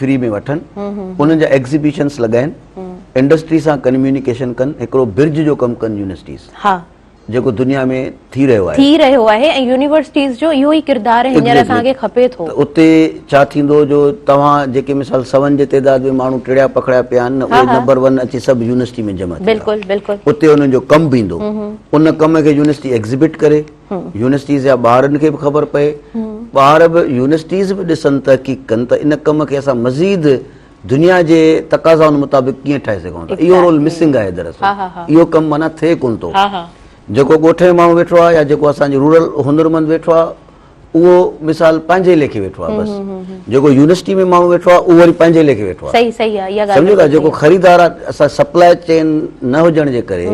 Speaker 2: فري ۾ وٺن انهن جا ايگزيبيشنس لڳائين انڊسٽري سان ڪنميونيڪيشن ڪن هڪڙو برج جو ڪم ڪن يونيورسٽيز جيڪو دنيا ۾ ٿي رهيو آهي ٿي رهيو آهي ۽ يونيورسٽيز
Speaker 1: جو اهو ئي ڪردار هينئر اسان کي کپي ٿو اتي ڇا
Speaker 2: ٿيندو جو توهان جيڪي مثال سون جي تعداد ۾ ماڻهو ٽڙيا پکڙيا پيا آهن اهي نمبر ون اچي سڀ يونيورسٽي ۾ جمع ٿيندا بلڪل بلڪل اتي
Speaker 1: انهن جو ڪم به
Speaker 2: ايندو ان ڪم کي يونيورسٽي ايگزيبٽ ڪري يونيورسٽيز جا ٻارن کي به خبر پئي ٻار به يونيورسٽيز به ڏسن تحقيق ڪن ته ان ڪم کي اسان مزيد دنيا جي تقاضائن مطابق ڪيئن ٺاهي سگهون ٿا اهو رول مسنگ آهي دراصل اهو ڪم معنيٰ ٿئي ڪونه ٿو جيڪو ڳوٺ جو ماڻهو ويٺو آهي يا جيڪو اسانجو رورل هنرمند ويٺو آهي اهو مثال پنهنجي ليکي ويٺو آهي بس جيڪو يونيورسٽي ۾ ماڻهو ويٺو آهي اهو وري پنهنجي ليکي ويٺو آهي سمجهو ٿا جيڪو خريدار آهي اسان سپلائي چين نه هجڻ جي ڪري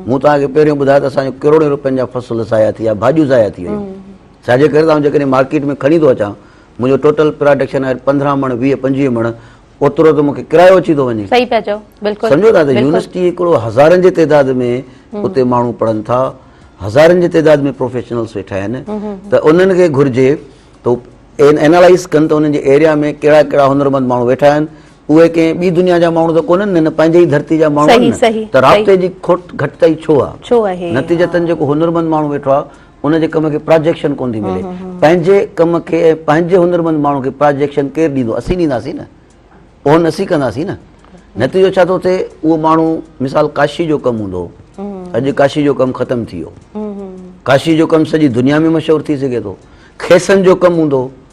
Speaker 2: مون توهان کي پهريون ٻڌايو ته اسان جو ڪروڙين روپين جا فصل ضايع ٿي ويا، ڀاڄيون ضايع ٿي ويون. ڇا جي ڪري ته آئون جيڪڏهن مارڪيٽ ۾ کڻي ٿو اچان، منهنجو ٽوٽل پراڊڪشن آهي پندرهن مڻ، ويهه پنجويهه مڻ، اوترو ته مون کي ڪرايو اچي ٿو وڃي. صحيح پيا چئو، بلڪل. سمجهو ٿا ته يونيورسٽي هڪڙو هزارن جي تعداد ۾ اتي ماڻهو پڙهن ٿا، هزارن جي تعداد ۾ پروفيشنلز ويٺا آهن ته انهن کي گهرجي ته هو اينالائز ڪن ته انهن جي ايريا ۾ ڪهڙا ڪهڙا هنرمند ماڻهو ويٺا آهن اهي ڪنهن ٻي دنيا جا ماڻهو ته ڪونهن نه نه پنهنجي ئي ڌرتي جا ماڻهو آهن نه ته رابطي جي کوٽ گهٽتائي ڇو آهي نتيجتن جيڪو هنرمند ماڻهو ويٺو آهي ان جي ڪم کي پراجيڪشن ڪونه ٿي ملي پنهنجي ڪم کي ۽ پنهنجي هنرمند ماڻهو کي پراجيڪشن ڪير ڏيندو اسين ڏينداسين نه اهن اسين ڪنداسين نه نتيجو ڇا ٿو ٿئي اهو ماڻهو مثال ڪاشي جو ڪم هوندو اڄ ڪاشي جو ڪم ختم ٿي ويو ڪاشي جو ڪم سڄي دنيا ۾ مشهور ٿي سگهي ٿو کيسن جو ڪم هوندو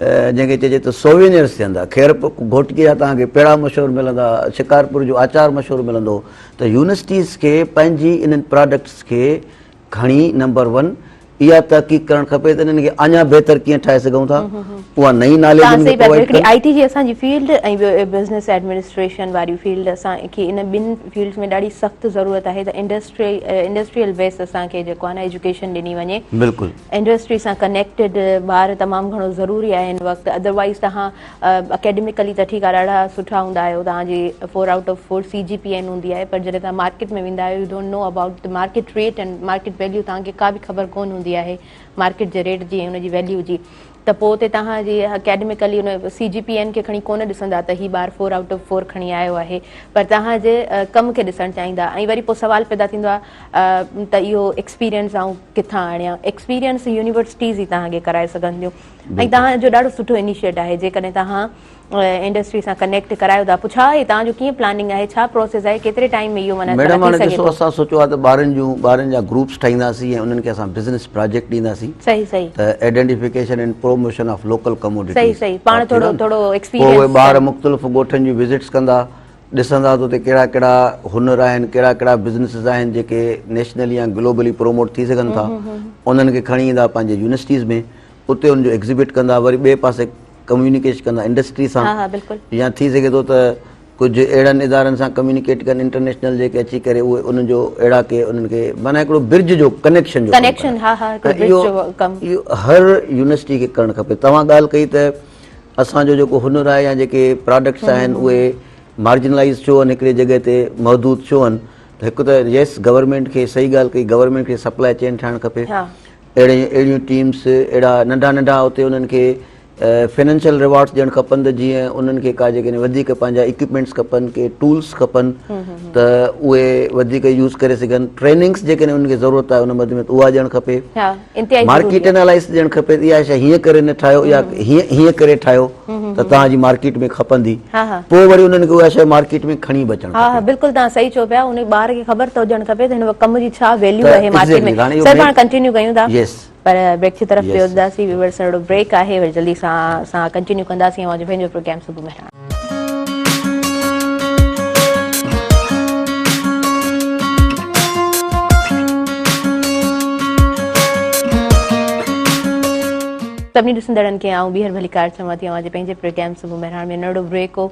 Speaker 2: جنهن کي چئجي ته سووينئرز ٿيندا، خيرپور گهوٽڪي جا توهان کي پيڙا مشهور ملندا، شڪارپور جو آچار مشهور ملندو ته يونيورسٽيز کي پنهنجي انهن پراڊڪٽس کي کڻي نمبر ون اها تحقيق ڪرڻ کپي ته انهن کي اڃا بهتر ڪيئن ٺاهي سگهون ٿا اها نئين ناليج انهن کي پرووائيڊ ڪن. آئي ٽي جي
Speaker 1: اسان جي فيلڊ ۽ ٻيو بزنس ايڊمنسٽريشن واري فيلڊ اسان کي انهن ٻن فيلڊز ۾ ڏاڍي سخت ضرورت آهي ته انڊسٽريل بيس اسان کي جيڪو آهي نه ايجوڪيشن ڏني وڃي. بلڪل. انڊسٽري سان ڪنيڪٽيڊ ٻار تمام گهڻو ضروري آهي هن وقت ادر وائيز توهان اڪيڊميڪلي ته ٺيڪ آهي ڏاڍا سٺا هوندا آهيو توهان جي four out of four C G P A هوندي آهي پر جڏهن توهان مارڪيٽ ۾ ويندا آهيو you don't know about the market rate and market value توهان کي ڪا به خبر ڪون هوندي آهي مارڪيٽ جي ريٽ جي ۽ ان جي ويليو جي ته پوء اتي توهان جي اڪيڊميڪلي ان سي جي پي اين کي کڻي ڪونه ڏسندا ته هي ٻار فور آئوٽ آف فور کڻي آيو آهي پر توهان جي ڪم کي ڏسڻ چاهيندا ۽ وري پوء سوال پيدا ٿيندو آهي ته اهو ايڪسپيرينس آئون ڪٿان آڻيان ايڪسپيرينس يونيورسٽيز ئي توهان کي ڪرائي سگهن ٿيون ۽ توهان جو ڏاڍو سٺو انيشيٽ آهي جيڪڏهن توهان انڊسٽري سان ڪنيڪٽ ڪرايو ٿا پڇا هي تان جو ڪيئن پلاننگ آهي ڇا پروسيس آهي ڪيتري ٽائيم ۾ اهو معنيٰ ٿي سگهي ٿو. ميڊم هاڻي ڏسو اسان
Speaker 2: سوچيو آهي ته ٻارن جون ٻارن جا گروپس ٺاهينداسين ۽ انهن کي اسان بزنس پراجيڪٽ ڏينداسين صحيح صحيح ته identification and promotion of local commodities صحيح صحيح پاڻ ٿورو ٿورو ايڪسپيرينس پوء اهي ٻار مختلف ڳوٺن جون وزٽس ڪندا ڏسندا ته اتي ڪهڙا ڪهڙا هنر آهن ڪهڙا ڪهڙا بزنسز آهن جيڪي نيشنلي يا گلوبلي پروموٽ ٿي سگهن ٿا انهن کي کڻي ايندا پنهنجي يونيورسٽيز ۾ اتي ان جو ايگزيبٽ ڪندا وري ٻئي پاسي ڪميونيڪيشن ڪندا انڊسٽري سان يا ٿي سگهي ٿو ته ڪجهه اهڙن ادارن سان ڪميونيڪيٽ ڪن انٽرنيشنل جيڪي اچي ڪري اهي انهن جو اهڙا ڪي انهن کي معنيٰ هڪڙو برج جو ڪنيڪشن جو ڪم اهو هر يونيورسٽي کي ڪرڻ کپي توهان ڳالهه ڪئي ته اسانجو جيڪو هنر آهي يا جيڪي پراڊڪٽس آهن اهي مارجنلائز ڇو آهن هڪڙي جڳهه تي محدود ڇو آهن هڪ ته يس گورنمنٽ کي صحيح ڳالهه ڪئي گورنمنٽ کي سپلاء چين ٺاهڻ کپي اهڙي اهڙيون ٽيمس اهڙا ننڍا ننڍا اتي انهن کي فنانشل ريوارڊس ڏيڻ کپن ته جيئن انهن کي ڪا جيڪڏهن وڌيڪ پنهنجا اڪيوپمينٽس کپن ڪي ٽولس کپن ته اهي وڌيڪ يوز ڪري سگهن ٽريننگس جيڪڏهن انهن کي ضرورت آهي ان مد ۾ اها ڏيڻ کپي مارڪيٽ انالائز ڏيڻ کپي اها شيء هيئن ڪري نه ٺاهيو يا هيئن ڪري ٺاهيو ته توهان جي مارڪيٽ ۾ کپندي پوء وري انهن کي اها شيء مارڪيٽ ۾ کڻي به اچڻ کپي. بلڪل توهان صحيح چئو پيا ان ٻار کي خبر ته هجڻ کپي ته هن ڪم جي ڇا ويليو آهي مارڪيٽ ۾ سر پاڻ ڪنٽينيو ڪيون ٿا پر بريڪ جي طرف پيو وڌنداسين ويورز سان هڙو بريڪ آهي وري جلدي سان اسان ڪنٽينيو ڪنداسين اوهان جو پنهنجو پروگرام صبح مهراڻ.
Speaker 1: سڀني ڏسندڙن کي آئون ٻيهر ڀليڪار چوان ٿي اوهان جي پنهنجي پروگرام صبح مهراڻ ۾ ننڍڙو بريڪ هو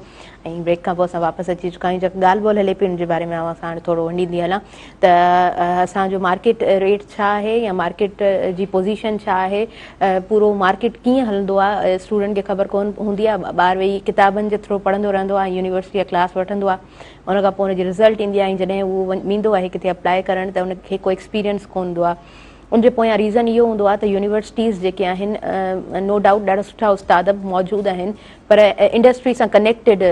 Speaker 1: ۽ بريڪ کان پوء اسان واپس اچي چڪا آهيون جيڪا ڳالهه ٻولهه هلي پئي ان جي باري ۾ اوهان سان هاڻي ٿورو ونڊيندي هلان ته اسان جو مارڪيٽ ريٽ ڇا آهي يا مارڪيٽ جي پوزيشن ڇا آهي پورو مارڪيٽ ڪيئن هلندو آهي اسٽوڊنٽ کي خبر ڪون هوندي آهي ٻار ويهي ڪتابن جي ٿرو پڙهندو رهندو آهي يونيورسٽي جا ڪلاس وٺندو آهي ان کان پوء ان جي رزلٽ ايندي آهي ۽ جڏهن هو ويندو آهي ڪٿي اپلائي ڪرڻ ته ان کي ڪو ايڪسپيرينس ڪون هوندو آهي ان جي پويان ريزن اهو هوندو آهي ته يونيورسٽيز جيڪي آهن نو ڊائوٽ ڏاڍا سٺا استاد به موجود آهن پر انڊسٽري سان ڪنيڪٽيڊ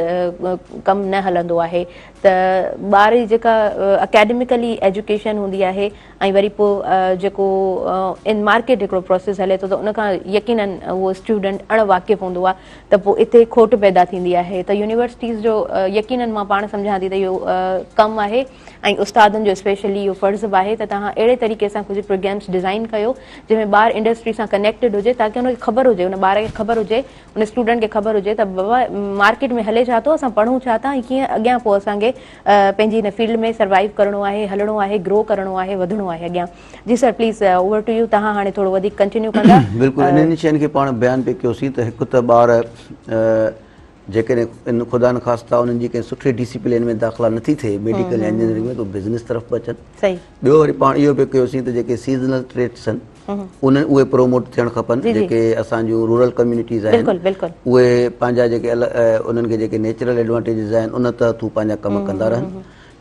Speaker 1: ڪم نه هلندو آهي ته ٻار جي جيڪا اڪيڊميڪلي ايجوڪيشن هوندي آهي ۽ وري پوء جيڪو ان مارڪيٽ هڪڙو پروسيس هلي ٿو ته ان کان يقينن اهو اسٽوڊنٽ اڻ واقف هوندو آهي ته پوء اتي کوٽ پيدا ٿيندي آهي ته يونيورسٽيز جو يقينن مان پاڻ سمجهان ٿي ته اهو ڪم آهي ۽ استادن جو اسپيشلي اهو فرض به آهي ته توهان اهڙي طريقي سان ڪجهه پروگرامس ڊزائين ڪيو جنهن ۾ ٻار انڊسٽري سان ڪنيڪٽيڊ هجي تاڪه ان کي خبر هجي ان ٻار کي خبر هجي ان اسٽوڊنٽ کي خبر هجي ته بابا مارڪيٽ ۾ هلي ڇا ٿو اسان پڙهون ڇا ٿا ۽ ڪيئن اڳيان پوء اسان کي پنهنجي هن فيلڊ ۾ سروائيو ڪرڻو آهي هلڻو آهي گرو ڪرڻو آهي وڌڻو آهي اڳيان جي sir please over to you توهان هاڻي ٿورو وڌيڪ ڪنٽينيو ڪندا بلڪل انهن شين کي
Speaker 2: پاڻ بيان پي ڪيوسين ته هڪ ته ٻار جيڪڏهن خدا نخواسته انهن جي ڪنهن سٺي ڊي سي پلي لائين ۾ داخلا نٿي ٿئي ميڊيڪل يا انجنيئرنگ ۾ ته هو بزنس طرف به اچن ٻيو وري پاڻ
Speaker 1: اهو به
Speaker 2: ڪيوسين ته جيڪي سيزنل ٽريڊس آهن انهن اهي پروموٽ ٿيڻ کپن جيڪي اسان جون رورل ڪميونٽيز آهن اهي پنهنجا جيڪي انهن کي جيڪي نيچرل ايڊوانٽيجز آهن ان تحت هو پنهنجا ڪم ڪندا رهن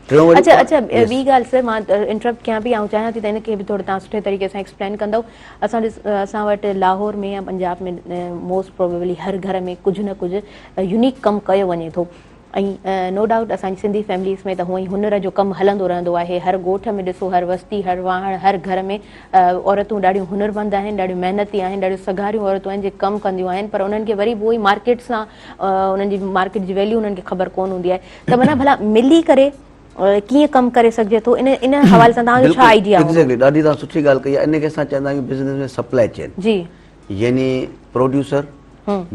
Speaker 2: ٽيون وري اچا اچا
Speaker 1: ٻي ڳالهه سر مان انٽرپٽ ڪيان پي آئون چاهيان ٿي ته ان کي به ٿورو توهان سٺي طريقي سان ايڪسپلين ڪندو اسان ڏس اسان وٽ لاهور ۾ يا پنجاب ۾ موسٽ پروبيبلي هر گهر ۾ ڪجهه نه ڪجهه يونيڪ ڪم ڪيو وڃي ٿو ۽ نو ڊائوٽ اسان جي سنڌي فيمليز ۾ ته هونئن ئي هنر جو ڪم هلندو رهندو آهي هر ڳوٺ ۾ ڏسو هر وستي هر واهڻ هر گهر ۾ عورتون ڏاڍيون هنرمند آهن ڏاڍيون محنتي آهن ڏاڍيون سگهاريون عورتون آهن جي ڪم ڪنديون آهن پر انهن کي وري به اهو ئي مارڪيٽ سان انهن جي مارڪيٽ جي ويليو انهن کي خبر ڪون هوندي آهي ته معنيٰ ڀلا ملي ڪري ڪيئن ڪم ڪري سگهجي ٿو ان ان حوالي سان توهان جو ڇا آئيڊيا هوندو. ايگزيڪٽلي ڏاڍي توهان سٺي ڳالهه
Speaker 2: ڪئي آهي ان کي اسان چوندا آهيون بزنس ۾ سپلائي چين جي يعني پروڊيوسر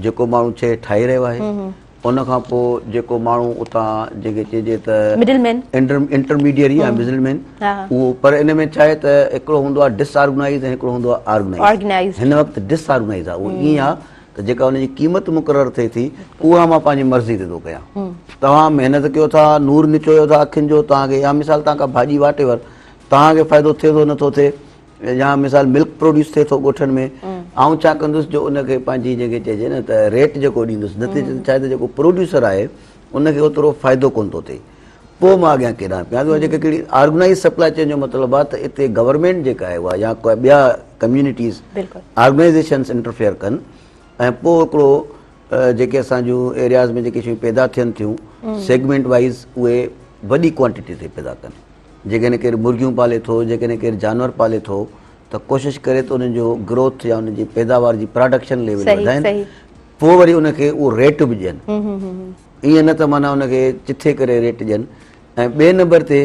Speaker 2: جيڪو ماڻهو شي ٺاهي رهيو آهي ان کان پوء جيڪو ماڻهو اتان جنهن کي چئجي ته مڊل مين انٽرميڊيري يا مڊل مين اهو پر ان ۾ ڇا آهي ته هڪڙو هوندو آهي ڊس آرگنائيز ۽ هڪڙو هوندو آهي آرگنائيز هن وقت ڊس آرگنائيز آهي اهو ائين آهي ته جيڪا ان جي قيمت مقرر ٿئي ٿي اها مان پنهنجي مرضي تي ٿو ڪيان توهان محنت ڪيو ٿا نور نچويو ٿا اکين جو توهان کي يا مثال توهان کان ڀاڄي واٽ ايور توهان کي فائدو ٿئي ٿو نٿو ٿئي يا مثال ملڪ پروڊيوس ٿئي ٿو ڳوٺن ۾ آئون ڇا ڪندس جو ان کي پنهنجي جنهن کي چئجي نه ته ريٽ جيڪو ڏيندس نتيجي ته ڇا آهي ته جيڪو پروڊيوسر آهي ان کي اوترو فائدو ڪونه ٿو ٿئي پوء مان اڳيان ڪيڏانهن پيان ٿو جيڪا ڪهڙي آرگنائيز سپلاء چين جو مطلب آهي ته اتي گورنمينٽ جيڪا آهي اها يا ڪا ٻيا ڪميونٽيز آرگنائيزيشنس انٽرفيئر ڪن ۽ پوء هڪڙو جيڪي اسان جون ايرياز ۾ جيڪي شيون پيدا ٿين ٿيون سيگمينٽ وائز اهي وڏي ڪوانٽيٽي تي پيدا ڪن جيڪڏهن ڪير مرغيون پالي ٿو جيڪڏهن ڪير جانور پالي ٿو ته ڪوشش ڪري ته انهن جو گروٿ يا انهن جي پيداوار جي پراڊڪشن ليول وڌائن پوء وري ان کي اهو ريٽ به ڏين ائين نه ته معنيٰ ان کي چٿي ڪري ريٽ ڏين ۽ ٻئي نمبر تي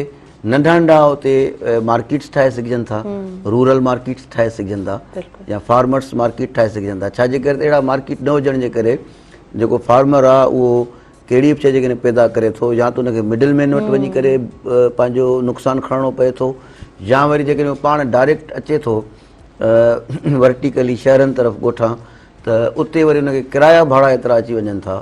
Speaker 2: ننڍا ننڍا اتي مارڪيٽس ٺاهي سگهجن ٿا رورل مارڪيٽس ٺاهي سگهجن ٿا يا فارمرس مارڪيٽ ٺاهي سگهجن ٿا ڇا جي ڪري اهڙا مارڪيٽ نه هجڻ جي ڪري جيڪو فارمر آ اهو ڪهڙي به شيء جيڪڏهن پيدا ڪري ٿو يا ته ان کي مڊل مين وٽ وڃي ڪري پنهنجو نقصان کڻڻو پئي ٿو يا وري جيڪڏهن اهو پاڻ ڊائريڪٽ اچي ٿو ورٽيڪلي شهرن طرف ڳوٺان ته اتي وري ان کي ڪرايا ڀاڙا ايترا اچي وڃن ٿا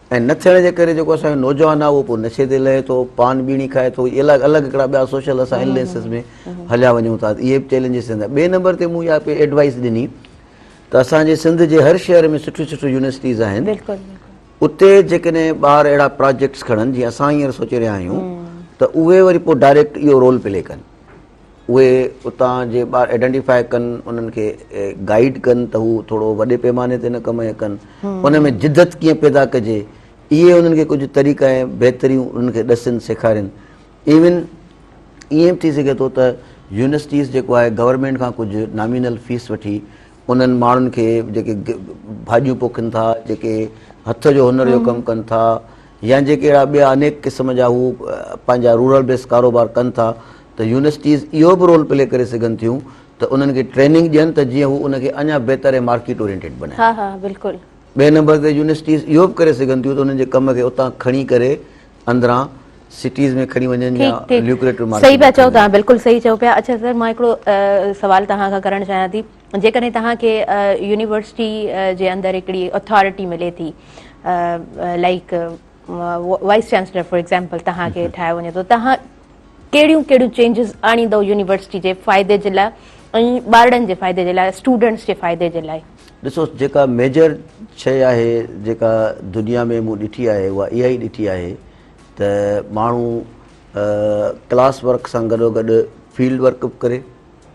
Speaker 2: ائين نه ٿيڻ جي ڪري جيڪو اسان جو نوجوان آهي اهو پوء نشي تي لهي ٿو، پان ٻيڻي کائي ٿو، اهي الڳ الڳ هڪڙا ٻيا سوشل اسان اليئنسز ۾ هليا وڃون ٿا، اهي به چئلينجز ٿين ٿا. ٻئي نمبر تي مون اها پئي ايڊوائيز ڏني ته اسان جي سنڌ جي هر شهر ۾ سٺيون سٺيون يونيورسٽيز آهن، اتي جيڪڏهن ٻار اهڙا پراجيڪٽس کڻن جيئن اسان هينئر سوچي رهيا آهيون ته اهي وري پوء ڊائريڪٽ اهو رول پلي ڪن. اهي اتان جي ٻار ائڊينٽيفائي ڪن انهن کي گائيڊ ڪن ته هو ٿورو وڏي پيماني تي نه ڪم ڪن ان ۾ جدت ڪيئن پيدا ڪجي اهي انهن کي ڪجهه طريقا ۽ بهتريون انهن کي ڏسن سيکارين ايون ائين به ٿي سگهي ٿو ته يونيورسٽيز جيڪو آهي گورنمينٽ کان ڪجهه نامينل فيس وٺي انهن ماڻهن کي جيڪي ڀاڄيون پوکين ٿا جيڪي هٿ جو هنر جو ڪم ڪن ٿا يا جيڪي اهڙا ٻيا انيڪ قسم جا هو پنهنجا رورل بيس ڪاروبار ڪن ٿا ته يونيورسٽيز اهو به رول پلي ڪري سگهن ٿيون ته انهن کي ٽريننگ ڏين ته جيئن هو ان کي اڃا بهتر ۽ مارڪيٽ اورينٽيڊ بنائين. ها ها بلڪل.
Speaker 1: ٻئي نمبر تي
Speaker 2: يونيورسٽيز اهو به ڪري سگهن ٿيون ته انهن جي ڪم کي اتان کڻي ڪري اندران سٽيز ۾ کڻي وڃن يا ليوڪريٽو مارڪيٽ ۾ کڻي وڃن. ٺيڪ ٺيڪ صحيح پيا چئو تهان بلڪل
Speaker 1: صحيح چئو پيا اڇا سر مان هڪڙو سوال تهان کان ڪرڻ چاهيان ٿي. جيڪڏهن توهان کي يونيورسٽي جي اندر هڪڙي اٿارٽي ملي ٿي like vice chancellor for example توهان کي ٺاهيو وڃي ٿو توهان ڪهڙيون ڪهڙيون چينجز آڻيندو يونيورسٽي جي فائدي جي لاء ۽ ٻارڙن جي فائدي جي لاء اسٽوڊنٽس جي فائدي جي لاء ڏسو جيڪا
Speaker 2: ميجر شيء آهي جيڪا دنيا ۾ مون ڏٺي آهي اها اها ئي ڏٺي آهي ته ماڻهو ڪلاس ورڪ سان گڏوگڏ فيلڊ ورڪ به ڪري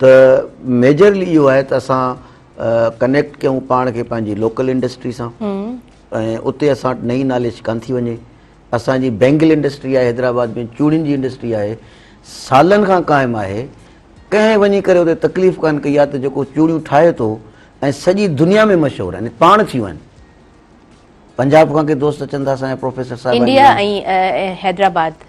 Speaker 2: ته ميجرلي اهو آهي ته اسان ڪنيڪٽ ڪيون پاڻ کي پنهنجي لوڪل انڊسٽري سان ۽ اتي اسان وٽ نئي ناليج ڪانه ٿي وڃي اسانجي بينگل انڊسٽري آهي حيدرآباد ۾ چوڙين جي انڊسٽري آهي سالن کان قائم آهي ڪنهن وڃي ڪري اتي تڪليف ڪانه ڪئي آهي ته جيڪو چوڙيون ٺاهي ٿو ۽ سڄي دنيا ۾ مشهور آهن پاڻ ٿيون آهن پنجاب کان
Speaker 1: ڪي
Speaker 2: دوست اچن ٿا اسانجا پروفيسر صاحب انڊيا ۽ حيدرآباد